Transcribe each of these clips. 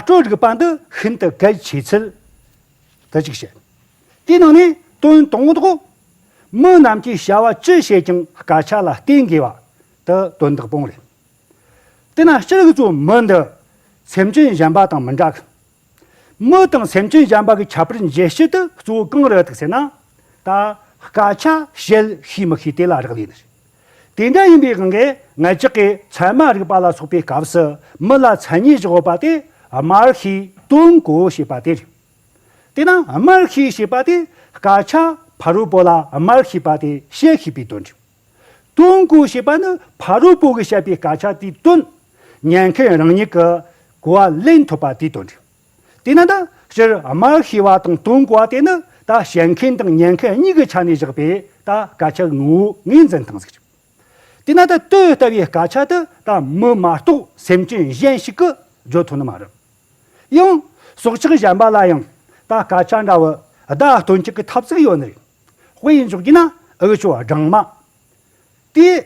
སྤྲོད་རིགས་པ་འདི་ཤིན་ཏུ་གལ་ཆེ་ཚུལ་དུ་གཅིག་བཤད། དེའི་ནང་ནས་དོན་དང་པོ། མི་རྣམས་ཀྱི་བྱ་བ་ཅི་བྱེད་ཀྱང་དཀའ་ཆག་ལ་བརྟེན་དགོས་པ་དེ་དོན་དག་པོ་རེད། དེས་ན་སྤྱིར་ངེད་ཚོའི་མི་འདི་སེམས་ཅན་གཞན་པ་དང་མི་འདྲ་གི། མི་དང་སེམས་ཅན་གཞན་པ་གི་ཁྱད་པར་འབྱེད་བྱེད་དུ་གཙོ་བོ་གང་རེད་ཟེར་ན། ད་དཀའ་ཆག་བྱེད་ཤེས་མི་ཤེས་དེ་ལ་རག་ལས་ནི་རེད། དེ་འདྲ་ཡིན་པའི་གངྒའི་ངལ་ལྕགས་ཀྱི་མཚན་མ་རིག་པ་ལ་སོགས་པའི་སྐབས་སུ་མི་ལ་མཚན་ཉིད་བཞག་པ་དེ་དམར་ཤིས་སྟོན་གོ་ཞེས་པ་དེ་རེད། དེས་ན་དམར་ཤིས་ཞེས་པ་དེ་དཀར་ཆ་ཕ་རོལ་པོ་ལ་དམར་ཞེས་པ་དེ་བཤད་ཤེས་པའི་དོན་རེད། སྟོན་གོ་ཞེས་པ་ནི་ཕ་རོལ་པོ་གིས་བཤད་པའི་དཀར་ཆ་དེའི་དོན་ཉན་མཁན་རང་ཉིད་ཀྱིས་གོ་བ་ལེན་ཐུབ་པ་དེའི་དོན་རེད། དེས་ན་དང་སྤྱིར་དམར་ཤེས་པ་དང་དུང་གོ་བ་དེ་ནི་ད་བཤད་མཁན་དང་ཉན་མཁན་གཉིས་ཀྱི་ཆ་ནས་བཞག་པས་ད་སྐད་ཆ་ངོ་བོ་ངོས་འཛིན་དང་གཟིགས་རིགས། དེས་ན་ད་ལྟོས་ལྟ་བའི་སྐད་ཆ་དེ་ད་མི་མ་གཏོགས་སེམས་ཅན་གཞན་ཞིག་གིས་བརྗོད་ཐུབ་ནི་མ་རེད། ཡང། སྲོག་ཆགས་གཞན་པ་ལ་ཡང་ད་སྐད་ཆ་འདྲ་བོ་ད་སྟོན་གཅིག་གི་ཐབས་ཚིག་ཡོད་ནི་རེད། དཔེ་འཇོག་རྒྱུ་ན་ཨུ་ཅོ་སྦྲང་མ། དེས་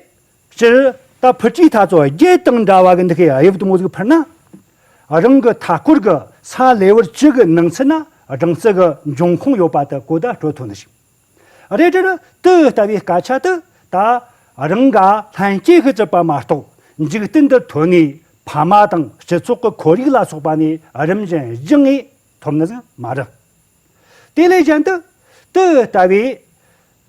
སྤྱིར་ད་ཕུ་ཀྲི་ཐ་ཚོ་རྒྱའི་སྟེང་འདྲ་བ་གི་འདི་གི་དབྱིབས་དུམ་བུ་ཟིག་འཕུར་ན། རང་གི་མཐའ་སྐོར་གི་ས་ལེཝར་གཅིག་གི་ནང་ཚུད་ན་སྦྲང་རྩི་གི་འབྱུང་ཁུངས་ཡོད་པ་དུ་གོ་བརྡ་སྤྲོད་ཐུབ་ནི་ཞིག་རེད། དྲི་དུས་ལྟ་བུའི་སྐད་ཆ་དུ་ད་རང་ག་ལྷན་སྐྱེས་ཤིག་བཙུགས་པ་མ་གཏོགས་འཇིག་རྟེན་འདི་ཐོན་ནས་ཕ་མ་དང་སྤྱི་ཚོགས་གི་ཁོར་ཡུག་ལ་སོགས་པ་ནས་རིམ་བཞིན་བརྗེད་ངེས་ཐུབ་ནི་ཟིག་མ་རེད། དེ་ལས་གཞན་དུ་དུས་ལྟ་བུའི་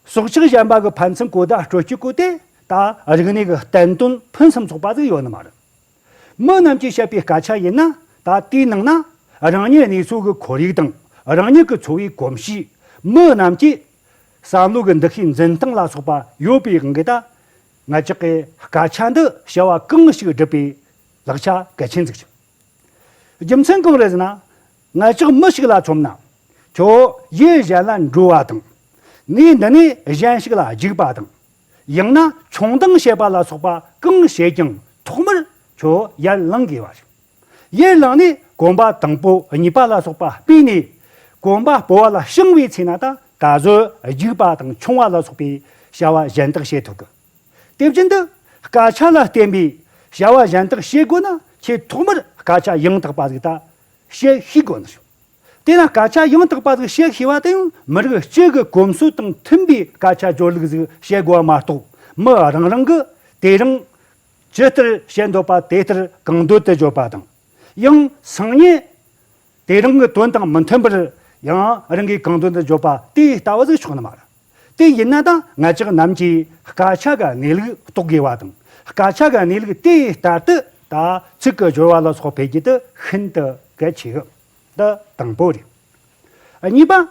སྲོག་ཆགས་གཞན་པ་གི་ཕན་ཚུན་གོ་བརྡ་སྤྲོད་སྤྱོད་སྐོར་དེ་ད་རིག་གནས་ཀྱི་བསྟན་དོན་ཕུན་སུམ་ཚོགས་པ་ཟིག་ཡོད་ནི་མ་རེད། མི་རྣམས་ཀྱིས་བཤད་པའི་སྐད་ཆ་ཡིན་ན་ད་ལྟའི་ནང་ན་རང་ཉིད་གནས་ཚུལ་གྱི་ཁོར་ཡུག་དང་རང་ཉིད་ཀྱི་འཚོ་བའི་གོམས་གཤིས། མི་རྣམས་ཀྱིས་བསམ་བློ་གི་འདུ་ཤེས་འཛིན་སྟངས་ལ་སོགས་པ་ཡོད་པའི་དབང་གིས་ད་ང་ཅག་གིས་སྐད་ཆ་འདི་བཤད་བ་གང་ཞིག་སྒྲུབ་པའི་ལག་ཆ་གལ་ཆེན་ཟིག་བྱུང། རྒྱུ་མཚན་གང་རེད་ཟེར་ན། ང་ཅག་མི་ཞིག་ལ་ཚོམ་ན། ཁྱོད་གཞན་གཞན་ལ་འགྲོ་བ་དང། ངས་འདི་ནས་གཞན་ཞིག་ལ་འཇིགས་པ་དང། ཡང་ན་ཆུང་འདང་བྱེད་པ་ལ་སོགས་པ་གང་བྱས་ཀྱང་ཐོག་མར་ཁྱོད་ཡར་བླངས་དགོས་པ་རེད། ཡར་བླངས་ནས་གོམ་པ་དང་པོ་གཉིས་པ་ལ་སོགས་པ་སྤོས་ནས། གོམ་པ་སྤོ་བ་ལ་བྱིང་བའི་ཚེ་ན་ད་གཟོད་འཇིགས་པ་དང་ཆུང་བ་ལ་སོགས་པའི་བྱ་བ་གཞན་དག་བྱེད་ཐུབ། དེ་བཞིན་དུ་སྐད་ཆ་ལ་བརྟེན་པའི་བྱ་བ་གཞན་དག་བྱེད་དགོས་ན་ཁྱོད་ཐོག་མར་སྐད་ཆ་ཡང་དག་པ་ཟིག་ད་གཤེགས་ཤིག་དགོངས་ནས་ཞུ། དེས་ན་སྐད་ཆ་ཡང་དག་པ་ཟིག་བཤད་ཤེས་པ་དེ་ཡང་མི་རིགས་གཅིག་གི་གོམས་སྲོལ་དང་མཐུན་པའི་སྐད་ཆ་སྦྱོར་ལུགས་ཟིག་བཤད་དགོས་པ་མ་གཏོགས་མི་རང་རང་གི་དེ་རིང་ཇི་ལྟར་བཤད་འདོད་པ་དེ་ལྟར་གང་འདོད་དུ་བརྗོད་པ་དང། ཡང་སང་ཉིན་དེ་རང་གི་དོན་དང་མི་མཐུན་པར་ཡང་རང་གིས་གང་འདོད་དུ་བརྗོད་པ་དེ་ལྟ་བུ་ཟིག་ཆོག་ནི་མ་རེད། དེ་ཡིན་ན་དང་ང་ཅག་རྣམས་ཀྱིས་དཀར་ཆག་གི་གནས་ལུགས་རྟོགས་དགོས་པ་དང་དཀར་ཆག་གི་གནས་ལུགས་དེ་ལྟར་དུ་ད་ཚིག་གི་སྦྱོར་བ་ལ་སོགས་འཕེལ་རྒྱས་དུ་ཤིན་ཏུ་གལ་ཆེ། འདི་དང་པོ་རེད། གཉིས་པ།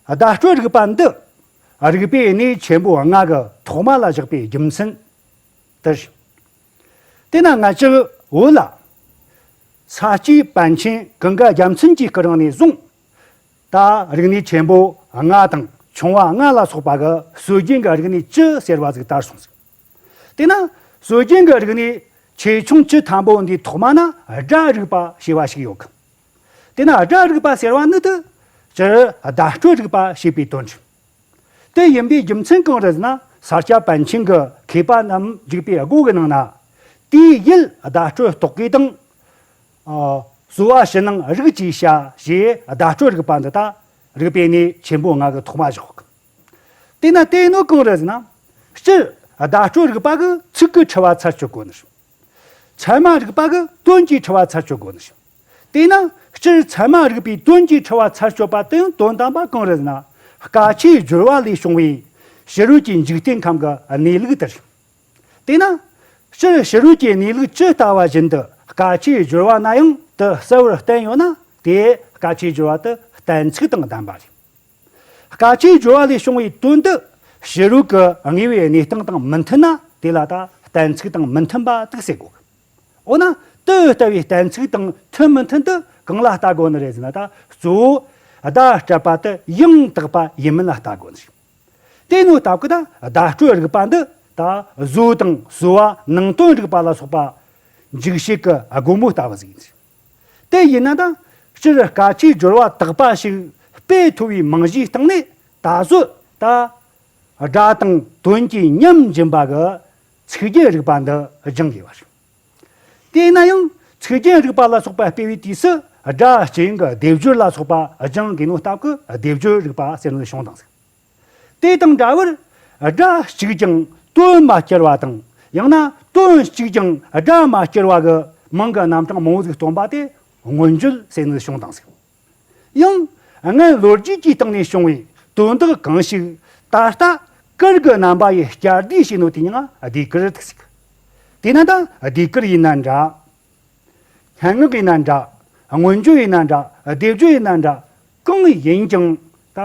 བརྡ་སྤྲོད་རིག་པ་འདི་རིག་པའི་གནས་ཆེན་པོ་ལྔ་གི་ཐོག་མ་ལ་བཞག་པའི་རྒྱུ་མཚན་དེ་རེད། དེས་ན་ང་ཅག་བོད་ལ་ས་སྐྱའི་པཎ་ཆེན་གངྒཱ་རྒྱ་མཚོན་གྱི་སྐུ་རིང་ནས་བཟུང། ལྟ། རིག་གནས་ཆེན་པོ་ལྔ་དང་ཆུང་བ་ལྔ་ལ་སོགས་པ་གི་སྲོལ་རྒྱུན་གྱི་རིག་གནས་བཅུ་ཟེར་བ་གཟིགས་ལྟར་གསུངས་ཟིན། དེས་ན་སྲོལ་རྒྱུན་གྱི་རིག་གནས་ཆེ་ཆུང་བཅུ་དང་པོ་འདིའི་ཐོག་མ་ན་སྒྲ་རིག་པ་ཞེས་པ་ཞིག་ཡོད་གི། དེས་ན་སྒྲ་རིག་པ་ཟེར་བ་ནི་དུས་ཀྱི་བརྡ་སྤྲོད་རིག་པ་ཞེས་པའི་དོན་བྱུང། དེ་ཡིན་པའི་རྒྱུ་མཚན་གང་རེད་ཟེར་ན་ས་སྐྱ་པཎ་ཆེན་གྱི་མཁས་པ་རྣམས་འཇིགས་པའི་སྒོ་གི་ནང་ན། དུས་ཡུལ་བརྡ་སྤྲོད་རྟོག་གེ་དང། གསོལ་བ་ཕྱི་ནང་རིག་བྱའི་བྱ་ཞེས་བརྡ་སྤྲོད་རིག་པ་འདི་དག་རིག་པའི་གནས་ཆེན་པོའི་ངང་གིས་ཐོག་མ་བཞག་གམ། དེས་ན་དེ་ནི་གང་རེད་ཟེར་ན། སྤྱིར་བརྡ་སྤྲོད་རིག་པ་གི་ཚིག་གིས་འཁྲི་བ་ཚར་གཅོད་དགོས་ནི་ཞིང། ཚད་མ་རིག་པ་གི་དོན་གྱིས་འཁྲི་བ་ཚར་གཅོད་དགོས་ནི་ཞིང། དེས་ན་སྤྱིར་ཚད་མ་རིག་པའི་དོན་གྱིས་འཁྲི་བ་ཚར་གཅོད་པ་དེའི་དོན་དམ་པ་གང་རེད་ཟེར་ན། བཀའ་ཆའི་སྦྱོར་བ་ལས་བྱུང་བའི་ཕྱི་རོལ་གྱི་འཇིག་རྟེན་ཁམས་ཀྱི་གནས་ལུགས་དེར་ཞིང། དེས་ན། སྤྱིར་ཕྱི་རོལ་གྱི་གནས་ལུགས་ཇི་ལྟ་བ་བཞིན་དུ་དཀའ་སྤྱད་སྦྱོར་བ་ན་ཡང་དུ་གསལ་བོར་བསྟན་ཡོད་ན་དེས་དཀའ་སྤྱད་སྦྱོར་བ་དུ་གཏན་ཚིགས་དང་ལྡན་པ་རེད། དཀའ་སྤྱད་སྦྱོར་བ་ལས་བྱུང་བའི་དོན་དུ་ཕྱི་རོལ་གྱི་ངེས་པའི་གནས་སྟངས་དང་མི་མཐུན་ན་དེ་ལ་ད་གཏན་ཚིགས་དང་མི་མཐུན་པ་དག་བསྲེ་དགོས། འོ་ན་དེ་ལྟ་བུའི་གཏན་ཚིགས་དང་མཐུན་མི་མཐུན་དུ་གང་ལ་བལྟ་དགོས་ནི་རེད་ཟེར་ན་ད་གཙོ་བོ་བརྡ་སྤྲད་པ་དེ་ཡང་དག་པ་ཡིན་མིན་ལ་བལྟ་དགོས་ནི་རེད། དེ་ནི་ད་གུ་དང་བརྡ་སྤྲོད་རིག་པ་འདི་ད་གཟོད་དང་གསོལ་བ་ནང་དོན་རིག་པ་ལ་སོགས་པ། འཇིགས་བྱེད་ཀྱི་སྒོ་མོ་ལྟ་བུ་ཟིག་ཡིན། དེ་ཡིན་ན་ད་སྤྱིར་བཀའ་ཁྲིའི་སྦྱོར་བ་དག་པ་ཞིག་དཔེ་མཐོ་བའི་མིང་གཞིའི་སྟེང་ནས་ད་གཟོད་ད། སྒྲ་དང་དོན་གྱི་མཉམ་སྦྱིན་པ་གི་ཚིག་རྒྱན་རིག་པ་འདི་སྦྱང་དགོས་པ་རེད། དེས་ན་ཡང་ཚིག་རྒྱན་རིག་པ་ལ་སོགས་པ་སྤེལ་བའི་དུས་སུ་སྒྲ་གཅན་གྱི་སྡེབ་སྦྱོར་ལ་སོགས་པ་སྦྱང་དགོས་ན་རྟགས་ཀྱི་སྡེབ་སྦྱོར་རིག་པ་སེམས་ལ་ཤོང་དང་གཟིགས། དེ་དང་འདྲ་བར་སྒྲ་གཅིག་ཀྱང་དོན་མ་སྐྱེར་བ་དང་ཡང་ན་དོན་གཅིག་ཀྱང་སྒྲ་མ་སྐྱེར་བ་གྱི་མིང་གི་རྣམ་གྲངས་མང་པོ་ཞིག་སྟོན་པ་དེ་མངོན་བརྗོད་སེམས་ལ་ཤོང་དང་གཟིགས། ཡང། སྔར་ལོ་རྒྱུས་ཀྱི་སྟེང་ནས་བྱུང་བའི་དོན་དག་གང་ཞིག་ད་ལྟ་ཀིར་གི་རྣམ་པ་ཡིས་བསྐྱར་ཟློས་བྱས་ནོ་དེ་ཡང་སྡེ་ཀིར་ཐུགས་སྲས། དེས་ན་ད་སྡེ་ཀིར་ཡིན་ན་འདྲ། སྙན་ངག་ཡིན་ན་འདྲ། མངོན་བརྗོད་ཡིན་ན་འདྲ་སྡེབ་སྦྱོར་ཡིན་ན་འདྲ་གང་ཡིན་ཀྱང་ད་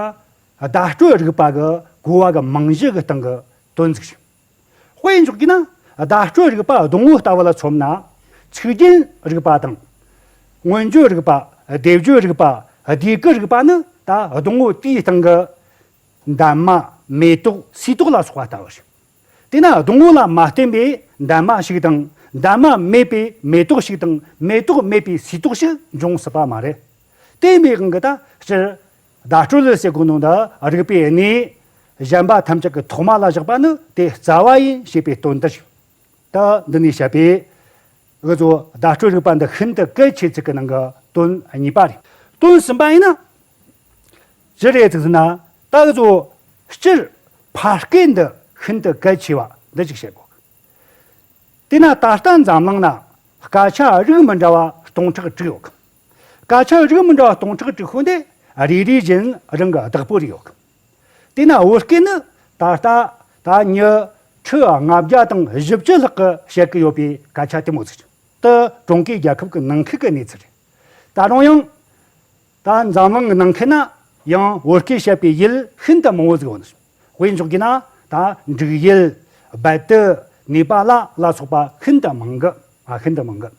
བརྡ་སྤྲོད་རིག་པ་གི་གོ་བ་གི་རྨང་གཞི་གི་སྟེང་གི་དོན་ཚིག་ཞིག་དཔེ་འཇོག་གིས་ན། བརྡ་སྤྲོད་རིག་པ་སྡོང་བོ་ལྟ་བུ་ལ་མཚོན་ན། ཚིག་རྒྱན་རིག་པ་དང། མངོན་བརྗོད་རིག་པ། སྡེབ་བརྗོད་རིག་པ། སྡེ་ཀུན་རིག་པ་ནི་ད་སྡོང་བོ་དེའི་སྟེང་གི། འདབ་མ། མེ་ཏོག་སུའི་ཏོག་ལ་སོགས་པ་ལྟ་བུ་ཞིག། དེས་ན་སྡོང་བོ་ལ་མ་བརྟེན་པའི་འདབ་མ་ཞིག་དང། འདབ་མ་མེད་པའི་མེ་ཏོག་ཞིག་དང་མེ་ཏོག་མེད་པའི་སུའི་ཏོག་ཞིག་འབྱུང་སྲིད་པ་མ་རེད། བརྟེན་པའི་དབང་གིས་ད་སྤྱིར། བརྡ་སྤྲོད་ལས་སའི་གོ་ནོར་འདི་རིགས་པས་གནས་གཞན་པ་ཐམས་ཅད་ཀྱི་ཐོག་མ་ལ་བཞག་པ་ནི་དེ་རྩ་བ་ཡིན་ཞེས་པའི་དོན་ཏེ། ད་འདི་ནས་བཤད་པའི་འུ་ཚོའི་བརྡ་སྤྲོད་རིག་པ་འདི་ཤིན་ཏུ་གལ་ཆེ་ཚིག་གི་ནང་གི་དོན་གཉིས་པ་རེད། དོན་གསུམ་པ་ཡིན་ན། ཅི་རེད་ཟེར་ན་ད་འུ་ཚོ་སྤྱིར་ཕར་སྐད་འདི་ཤིན་ཏུ་གལ་ཆེ་བ་འདི་ཅིག་བཤད་དགོས། དེས་ན་ད་ལྟ་འཛམ་གླིང་ན་སྐད་ཆ་རིགས་མི་འདྲ་བ་སྟོང་ཕྲག་དྲུག་ཡོད། སྐ་ཆུང་རིགས་མི་འདྲ་སྟོང་ཕྲག་དྲུག་ཤོས་འདི་རེ་རེ་བཞིན་རང་གི་བདག་པོ་རེ་ཡོད་གི། དེས་ན་བོད་སྐད་ནི་ད་ལྟ་ད་ཉི་ཁྲི་ལྔ་བརྒྱ་དང་བཞི་བཅུ་ལྷག་གི་བཤད་གི་ཡོད་པའི་སྐད་ཆ་དེ་མོ་ཚུལ་དུ་ཀྲུང་གོའི་རྒྱལ་ཁབ་ཀྱི་ནང་ཁུལ་གྱི་གནས་ཚུལ་རེད། ད་རུང་ཡང། ད་འཛམ་གླིང་གི་ནང་ཁུལ་ན་ཡང་བོད་སྐད་བཤད་པའི་ཡུལ་ཤིན་ཏུ་མང་བོ་ཟིག་ཡོད་ནི། དཔེ་འཇོག་གྱིས་ན་ད་འབྲུག་ཡུལ། རྦད་དུ་ནེ་པ་ལ་ལ་སོགས་པ་ཤིན་ཏུ་མང་གི། ཤིན་ཏུ་མང་གི།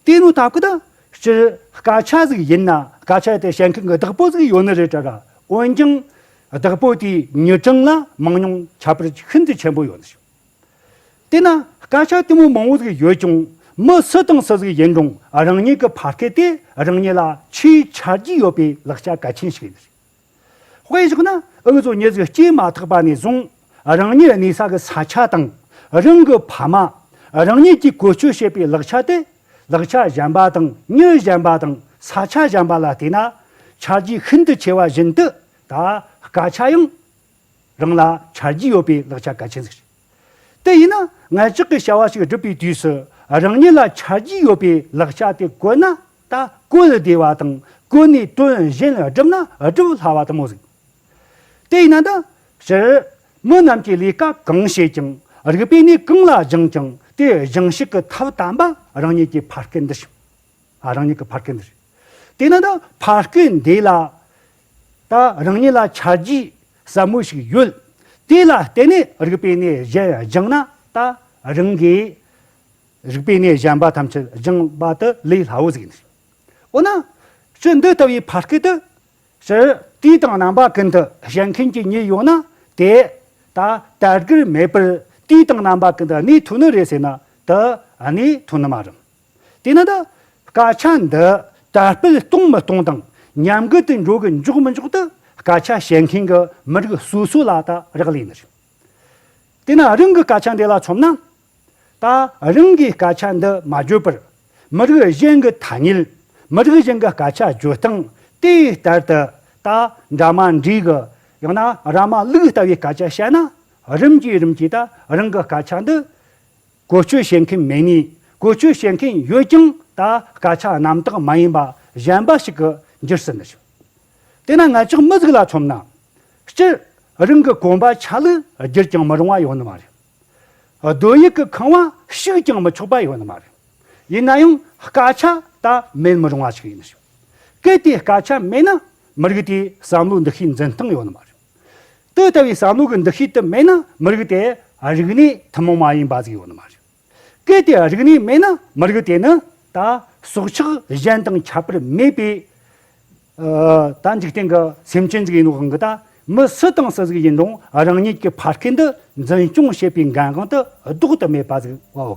དེ་ནི་ད་གུ་དང། སྤྱིར་སྐད་ཆ་ཟིག་ཡིན་ན་སྐད་ཆ་དེ་བཤད་མཁན་གྱི་བདག་པོ་ཟིག་ཡོད་ནི་རེད་གྲ་ག་འོན་ཀྱང། བདག་པོ་དེའི་ཉེས་བྲང་ལ་མང་ཉུང་ཁྱད་པར་ཤིན་ཏུ་ཆེན་པོ་ཡོད་ནི་ཞིག། དེས་ན་སྐད་ཆ་དེ་མོ་མང་བོ་ཟིག་ཡོད་ཀྱང་མི་སུ་དང་སུ་ཟིག་ཡིན་རུང་རང་ཉིད་ཀྱི་ཕ་སྐད་དེ་རང་ཉིད་ལ་ཆེས་ཆ་རྒྱུས་ཡོད་པའི་ལག་ཆ་གལ་ཆེན་ཞིག་ཡིན་ནི་རེད། དཔེར་བཞག་ན་ཨུ་ཚུགས་ཉེས་བརྩི་སྐྱེས་མ་ཐག་པ་ནས་བཟུང་རང་ཉིད་གནས་ས་གི་ས་ཆ་དང་རང་གི་ཕ་མ་རང་ཉིད་ཀྱིས་བཀོལ་སྤྱོད་བྱེད་པའི་ལག་ཆ་དེ་ལག་ཆ་གཞན་པ་དང་མྱུལ་གཞན་པ་དང་ས་ཆ་གཞན་པ་ལ་བལྟས་ན་ཆ་རྒྱུས་ཤིན་ཏུ་ཆེ་བ་བཞིན་དུ་ད་སྐ་ཆ་ཡང་རང་ལ་ཆ་རྒྱུས་ཡོད་པའི་ལག་ཆ་གལ་ཆེན་ཟིག་རེད། དེ་ཡིན་ན་ངས་ཅག་གིས་བྱ་བ་ཞིག་སྒྲུབ་པའི་དུས་སུ་རང་ཉིད་ལ་ཆ་རྒྱུས་ཡོད་པའི་ལག་ཆ་དེ་བཀོལ་ན་ལྟ་སྐོལ་བདེ་བ་དང་སྐུ་ནི་དོན་གཞན་ལ་བསྒྲུབ་ན་བསྒྲུབ་སླ་བ་ལྟ་མོ་ཟིག། དེས་ན་འདི་ཕྱིར། མི་རྣམས་ཀྱིས་ལས་ཀ་གང་བྱེད་ཀྱང་རིག་པས་ནི་གང་ལ་སྦྱངས་ཀྱང་དེ་སྦྱངས་ཤིག་གི་ཐབས་དམ་པ་རང་ཉིད་ཀྱི་ཕར་སྐད་འདི་བྱིན། རང་ཉིད་ཀྱི་ཕར་སྐད་འདི་བྱིན། དེས་ན་འདི་ཕར་སྐད་འདི་ལ། ད་རང་ཉིད་ལ་ཆ་རྒྱུས་ཟབ་མོ་ཞིག་ཡོད། དེ་ལ་བརྟེན་ནས་རིག་པས་ནི་གཞན་སྦྱངས་ན་ད་རང་གིས། རིག་པའི་གནས་གཞན་པ་ཐམས་ཅད་སྦྱངས་པ་དེ་ལས་སླ་བོ་ཟིག་ཡིན། འོ་ན། ཕྱིར་འདི་ལྟ་བུའི་བར་སྐད་དུ། ཕྱིར། དུས་དང་རྣམ་པ་ཀུན་དུ་བཞེངས་མཁན་གྱི་ཉིད་ཡོད་ན་དེ། ད་ལྟ་སྒིར་མེད་པར་དུས་དང་རྣམ་པ་ཀུན་དུ་གནས་ཐུག་ནི་རེད་ཟེར་ན་དེ་གནས་ཐུག་ནི་མ་རུང། དེས་ན། སྐད་ཆ་འདི་དར་སྤེལ་གཏོང་མི་གཏོང་དང་ཉམས་རྒུད་དུ་འགྲོ་གི་འཇོག་མི་འཇོག་དེ་སྐད་ཆ་བཤད་མཁན་གྱི་མི་རིགས་སོ་སོ་ལ་ད་རག་ལས་ནི་རེད། དེས་ན་རང་གི་སྐད་ཆ་འདི་ལ་ཆོམ་ན། ད་རིང་གི་སྐད་ཆ་འདི་མ་བརྗོད་པར། མི་རིགས་གཞན་གྱི་ཐ་སྙད། མི་རིགས་གཞན་གྱི་སྐད་ཆ་བརྗོད་སྟངས་དེ་ལྟར་དུ། ད་འདྲ་མ་འདྲིས་ཀྱི། ཡང་ན་ར་མ་ལུག་ལྟ་བུའི་སྐད་ཆ་བཤད་ན། རིམ་གྱིས་རིམ་གྱིས་ད་རིང་གི་སྐད་ཆ་འདི། བཀོལ་སྤྱོད་བྱེད་མཁན་མེད་ངེས། བཀོལ་སྤྱོད་བྱེད་མཁན་ཡོད་ཀྱང་ད་སྐད་ཆ་རྣམ་དག་མ་ཡིན་པ་གཞན་པ་ཞིག་གི་འགྱུར་ཟིན་ནི་ཞིག། དེས་ན་ངེད་ཅག་མི་གཟུགས་ལ་ཚོམ་ན། སྤྱིར་རིང་གི་གོམ་པ་ཆ་ལུགས་བརྒྱུད་ཀྱང་མི་རུང་བ་ཡོང་ནི་མ་རེད། རྡོ་ཡིག་གི་ཁང་བ་བཤིག་ཀྱང་མི་ཆོག་པ་ཡོད་ནི་མ་རེད། ཡིན་ན་ཡང་སྐད་ཆ་དག་མེད་མི་རུང་བ་ཞིག་ཡིན་ཞིང། གལ་ཏེ་སྐད་ཆ་མེད་ན་མི་རིགས་དེའི་བསམ་བློའི་འདུ་ཤེས་འཛིན་སྟངས་ཡོད་ནི་མ་རེད། དེ་ལྟ་བུའི་བསམ་བློ་གི་འདུ་ཤེས་དེ་མེད་ན་མི་རིགས་དེ་རིག་གནས་ཐུན་མོང་མ་ཡིན་པ་ཟིག་ཡོད་ནི་མ་རེད། གལ་ཏེ་རིག་གནས་མེད་ན་མི་རིགས་དེ་ནི་ད་སྲོག་ཆགས་གཞན་དང་ཁྱད་པར་མེད་པའི་ད་འཇིག་རྟེན་གྱི་སེམས་ཅན་ཅིག་ཡིན་རུང་གདའ། མི་སུ་དང་སུ་ཟིག་ཡིན་རུང་རང་ཉིད་ཀྱི་ཕ་སྐད་འདི་འཛིན་སྐྱོང་བྱེད་པའི་འགན་དབང་དུ་ལྡོག་ཏུ་མེད་པ་ཟིག་བའོ།